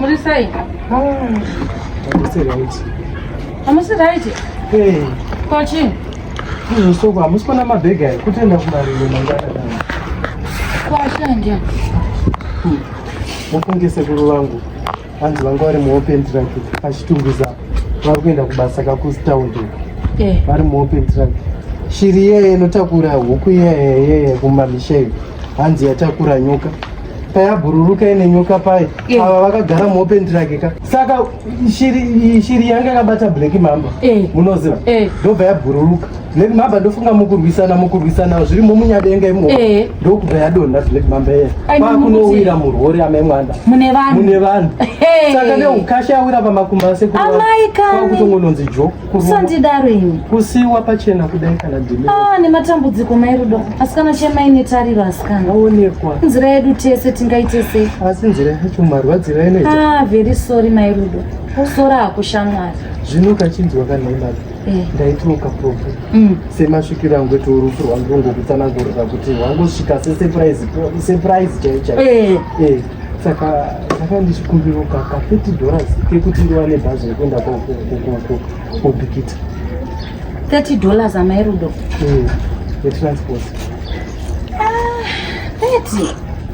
Muri sei? Hamusi right? Hey. Ko chii? Izvosoko hamusi kuona mabhegi ayo kutenda kumariro mangana. Ko ashandi. Mufunge sekuru vangu. Hanzi vanga vari muopen track achitunguza vari kuenda kubasa kakustown. Eh. Vari muopen track. Shiri yeye inotakura huku yeye yeye kumamisha iyo. Hanzi yatakura nyoka. payabhururuka ine nyoka paye eh. ava vakagara muopen track ka saka shiri shiri yanga yakabata black mamba eh. munoziva eh. ndobva yabhururuka black mamba ndofunga mukurwisana mukurwisana zviri momunyadenga imo ndokubva yadonha black mamba iye kwakunowira murwori amai mwanda mune vanhu saka neukasha awira pamakumba asekuru kwakutongononzi jo Usandidaro ini. Kusiwa pachena kudai kana dime. Ah, nematambudziko mai Rudo. Asikana chemai netariro asikana. Aonekwa. Nzira yedu tese tingaite sei? Asi nzira yacho marwadzira inoita. Ah, very sorry mai Rudo. Kusora hakushamwari. Zvino kachinzwa kana imari. Eh. Ndaituka profu. Mm. Semasvikiro angu eto rufu rwangu ngokutsanangurira kuti wangosvika se surprise surprise chaicha. Eh. Eh. saka saka ndichikumbira ka ka 30 dollars kekuti ndiwane bhazi rekuenda kobikita 30 dollars amai rudo mm, yetransport ah,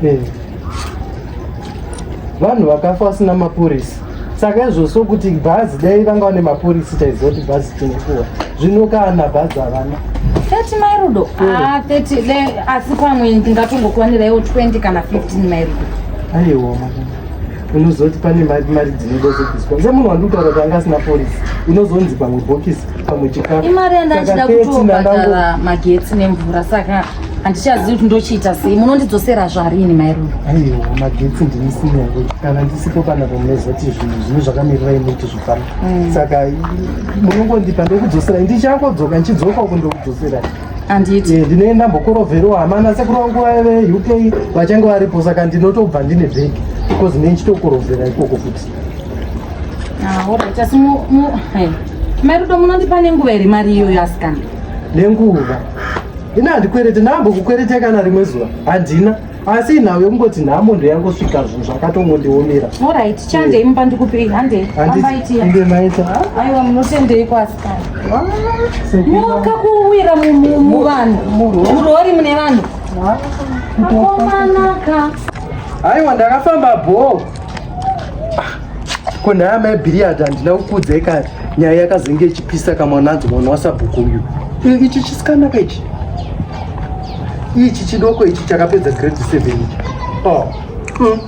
30 eh. vanhu vakafa vasina mapurisa saka izvo so kuti bhazi dai vanga vane mapurisi taiziva kuti bhazi tinokuwa zvino kana bhazi havana thirty mairudo hmm. ah, thirty le asi pamwe ndingatongokuwaniraiwo twenty kana fifteen mairudo aiwa unozoti pane mari mari dzinoda zobviswa se munhu wandikutaura kuti anga asina purisi inozonzi pamwe bhokisi pamwe chikafu imari yandandida kutobhadhara magetsi nemvura saka handichazivi kuti ndochiita sei munondidzosera zvarini mairoro aiwa magetsi ndinisina kana ndisipo kana pamunezoti zvinhu zvino zvakamirira imi kuti zvifana mm. saka munongondipa ndokudzoserai ndichangodzoka ndichidzoka uku ndokudzoserai anditi eh, ndine ndambokorovhero hamana sekuru vangu vave uk vachange varipo saka ndinotobva ndine bhegi because ne ndichitokorovhera ikoko futi ah, orit asi eh, marudo munondipa nenguva here mari iyoyo asikana nenguva ini handikwerete ndambokukwerete kana rimwe zuva handina asi inhau yekungoti nhamo ndoyangosvika zvinhu zvakatongondiomera orit chandei mumba ndikupei handei ambaitiainge maita aiwa munotendei kwasikana nyoka kuwira muvanhu murori mune vanhu akomanaka aiwa ndakafamba bhoo ko nhaya mai bhiriyadhi handina kukuudzai kare nyaya yakazenge ichipisa kamwananzi mwana wasabhuku uyu ichi chisikanaka ichi ichi chidoko ichi chakapedza grade seven oh. mm.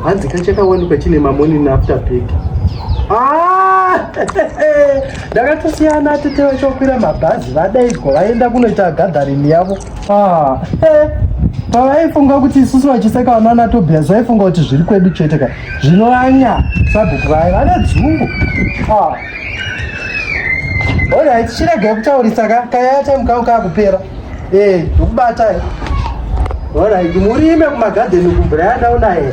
hanzi ka chakawanikwa chine mamonini after big ah! ndakatosiyana tete vachokwira mabhazi vadaigwa vaenda kunoita gadharini yavo Ah, eh, pavaifunga kuti isusu vachiseka vanaana tobias vaifunga kuti zviri kwedu chete ka zvinovanya sabhuku vaye vane dzungu ah. orit chiregei kutaurisa ka kayaya time kangu kakupera ee ndikubatai orit murime kumagadheni kumvura yandaunaye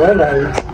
orit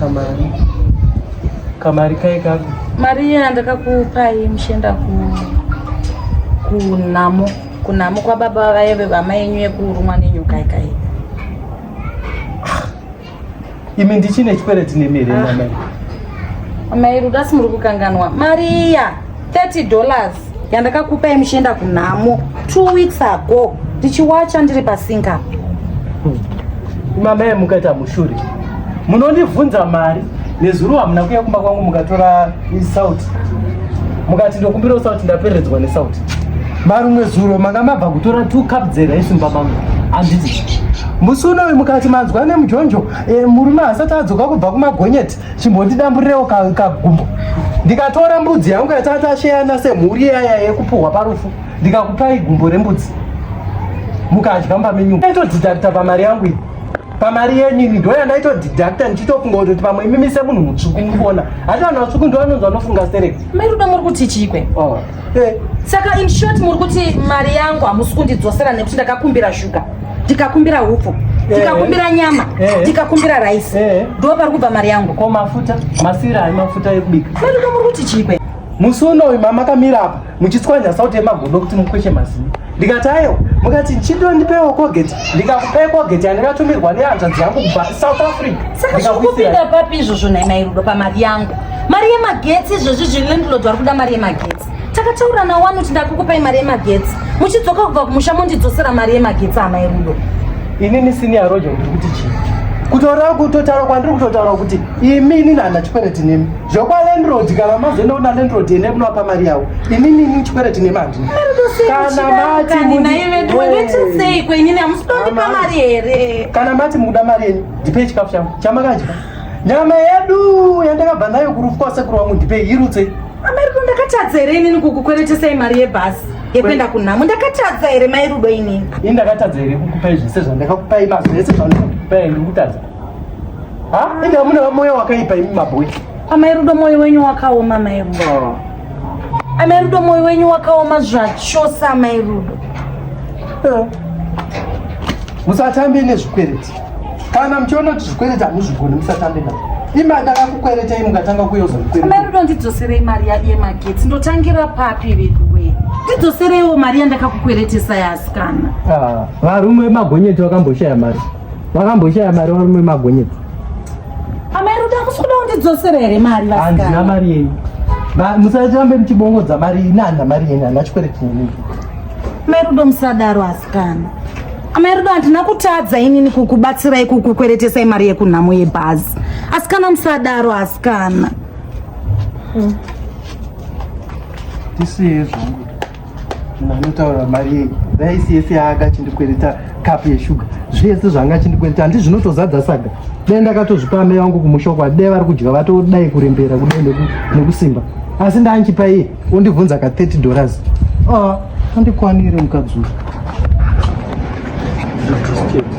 Kamari. Kamari kai kaku. Mari yandakakupai mushenda ku kunamo kunamo kwababa vaye vevama yenyu yekurumwa nenyoka ikai. Imi ndichine chikwereti nemere ah. mama. Amai Ruda simuri kukanganwa. Maria. 30 dollars yandakakupa yemuchienda kunhamo two weeks ago ndichiwacha ndiri pasinga hmm. mama yemukaita mushuri munondibvunza mari nezuro hamuna kuya kumba kwangu mukatora isauti mukati ndokumbira usauti ndapereredzwa nesauti marumwe zuro manga mabva kutora two cup dzera isimba mangu handiti musi unoyu mukati manzwa nemujonjo e, murume hasati adzoka kubva kumagonyeti chimbondidamburirewo kagumbo ndikatora mbudzi yangu yatatasheana semhuri yaya yekupuhwa parufu ndikakupai gumbo rembudzi mukadya mba menyu ndaitodidakta pamari yangu iyi pamari yenyini ndoya ndaitodidakta ndichitofunga kuti pamwe imimi semunhu mutsvuku mukuona hati vanhu vatsvuku ndovanonzi vanofunga sereke mai ruda muri kuti chiikwe oh. Eh. Saka in short muri kuti mari yangu hamusi kundidzosera nekuti ndakakumbira shuga ndikakumbira hupfu eh. ndikakumbira nyama eh. ndikakumbira raisi ndo pari kubva mari yangu ko mafuta masira ai mafuta ekubika maduka muri kuti chikwe musi unoyu mamakamira apa muchitswanya sauti yemagodo kuti mukweshe mazino ndikati ayo mukati chido ndipewo kogeti ndikakupei kogeti yandikatumirwa nehanzvadzi yangu kubva south africa ndikakuisira papi izvozvo nhai mairudo pamari yangu mari yemagetsi izvozvi zvilandlord vari kuda mari yemagetsi takataura nawani kuti ndakukupai mari yemagetsi muchidzoka kubva kumusha mondidzosera mari yemagetsi hamai rudo inini sini yarojo ndiri kuti chii kutaura kutotaura kwandiri kutotaura kuti imi inini hana chikwereti nemi zvekwalandrod kana mazoenda kuna landrod ene kunovapa mari yavo inini inini chikwereti nemani kana mati mundiwetesei kwenyini hamusitondipa mari here kana mati mukuda mari yenyu ndipei chikafu changu chamakadya nyama yedu yandakabva nayo kurufu kwasekuru wangu ndipei irutse amariko ndakatadza here inini kukukweretesai mari yebhasi yekuenda kunhamo ndakatadza here mai rudo inini ini ndakatadza here kukupai zvese zvandakakupai mazvese zvandakakupai ndikutadza ha inga mune moyo wakaipa imi mabhoyi amai rudo moyo wenyu wakaoma mai rudo oh. Amai Rudo, moyo wenyu wakaoma zvachose amai Rudo. Eh. Musatambe nezvikwereti. Kana muchiona kuti zvikwereti hamuzvigoni musatambe nazvo. Imari ndakakukweretei mukatanga kuuya uzondikwereta. Amai Rudo, ndidzoserei mari yemagetsi. Ndotangira papi veduwe? Ndidzosereiwo mari yandakakukweretesa yasikana. Ah, varume vemagonyeti vakamboshaya mari. Wakamboshaya mari warume magonyeti. Amai Ruda kusuda undidzosera here mari vasikana? Handina mari yenyu. Musarambe muchibongodza mari ini handina mari yenyu handina chikwereti chenyu. Amai Ruda musadaro asikana. Amai Ruda handina kutadza inini kukubatsirai kukukweretesai mari yekunhamo yebhazi. Asikana musadaro asikana. Hmm. Tisiye zvangu. munhu anotaura mari yei raisi yese yaanga achindikwereta kapu yeshuga zvese zvaanga achindikwereta handi zvinotozadza saga dai ndakatozvipa amai vangu kumusha uko adai vari kudya vatodai kurembera kudai nekusimba asi ndaanchipa iye ondibvunza ka 30 dollars ah, andikwanire mukadzi uyu